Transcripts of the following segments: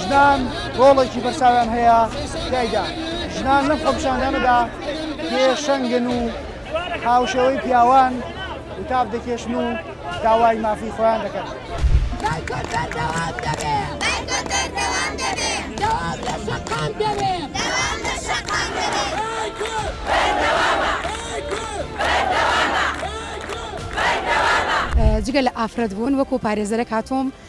ژنان ڕۆڵێکی بەرچاویان هەیە تیایدا ژنان لەم خۆپیشاندانەدا پێشەنگن و هاوشێوەی پیاوان وتاب دەکێشن و داوای مافی خۆیان دەکەن. جگە لە ئافرەت بوون وەکو پارێزەرەک هاتووم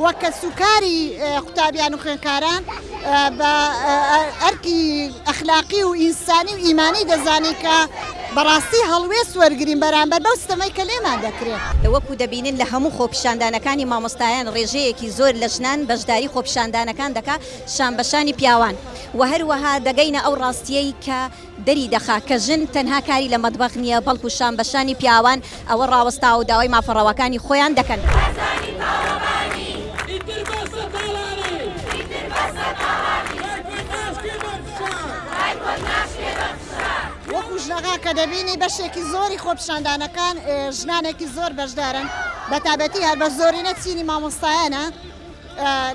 و کەسوکاری قوتابیان و خوێندکاران بە ئەرکی ئەخلاقی و ئینسانی و ئیمانی دەزانین کە بەڕاستی هەڵوێست وەرگین بەرامبەر بەو ستەمەی کە لێمان دەکرێت. وەکو دەبینن لە هەموو خۆپیشاندانەکانی مامۆستایان ڕێژەیەکی زۆر لە ژنان بەشداری خۆپیشاندانەکان دەکات شان بەشانی پیاوان و هەروەها دەگەینە ئەو ڕاستیەی کە دەری دەخا کە ژن تەنها کاری لە مەتبەخ نییە، بەڵکو شان بە شانی پیاوان ئەوە ڕاوەستاوە و داوای مافە ڕەواکانی خۆیان دەکەن. وەکو ژنەکان کە دەبینی بەشێکی زۆری خۆپیشاندانەکان ژنانێکی زۆر بەشدارن، بە تایبەتی هەر بە زۆرینە چینی مامۆستایانە،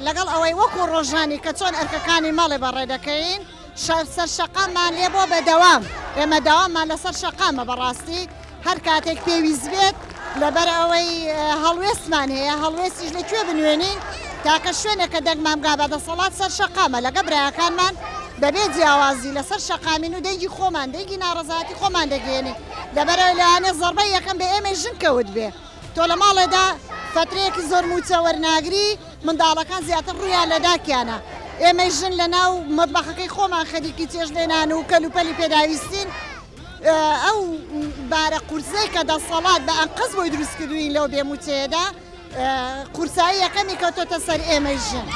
لەگەڵ ئەوەی وەکو ڕۆژانی کە چۆن ئەرکەکانی ماڵێ بەڕێ دەکەین، سەر شەقاممان لێ بووە بەدەوام ئێمە داوامان لەسەر شەقامە بەڕاستی هەر کاتێک پێویست بێت لەبەر ئەوەی هەڵوێستمان هەیە هەڵوێستیش لە کوێ بنوێنین تاکە شوێنێکە دەگمان بگا بە دەسەڵات سەر شەقامە لەگە براکانمان بەبێ جیاوازی لەسەر شەقامین و دەنگی خۆمان دەنگی ناڕزاتی خۆمان دەگەێنی لەبەرەوە لەوانێ زەربە یەکەم بە ئێمە ژن کەوت بێ تۆ لە ماڵێدا فەترەیەکی زۆر مووچە وەرناگری، منداڵەکان زیاتر ڕوویان لە داکیانە، ئێمەی ژن لە ناو مەتبەخەکەی خۆمان خەریکی چێشتلێنان و کەلوپەلی پێداویستین، ئەو بارە قورسەی کە دەسەڵات بە ئەنقەست بۆی دروستکردووین لەو بێ مووچەیەدا قورسایی یەکەمی کەوتۆتە سەر ئێمەی ژن.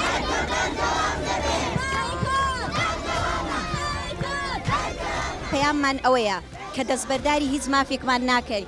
پەیاممان ئەوەیە کە دەستبەرداری هیچ مافێکمان ناکەین،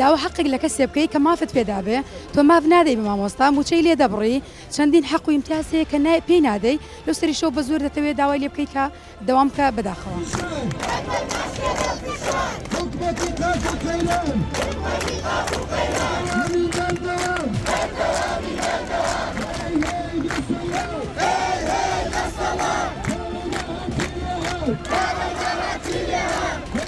داوا حەقێک لە کەسێ بکەی کە مافت پێ دابێ تۆ ماف نادەی بە مامۆستا موچەی لێ دەبڕی چەندین حەق و ئیمتیاز هەیە کە نای پێی نادەی لەو سەریشەوە بە زۆر دەتەوێ داوای لێ بکەی کە دەوام بکە بەداخەوە.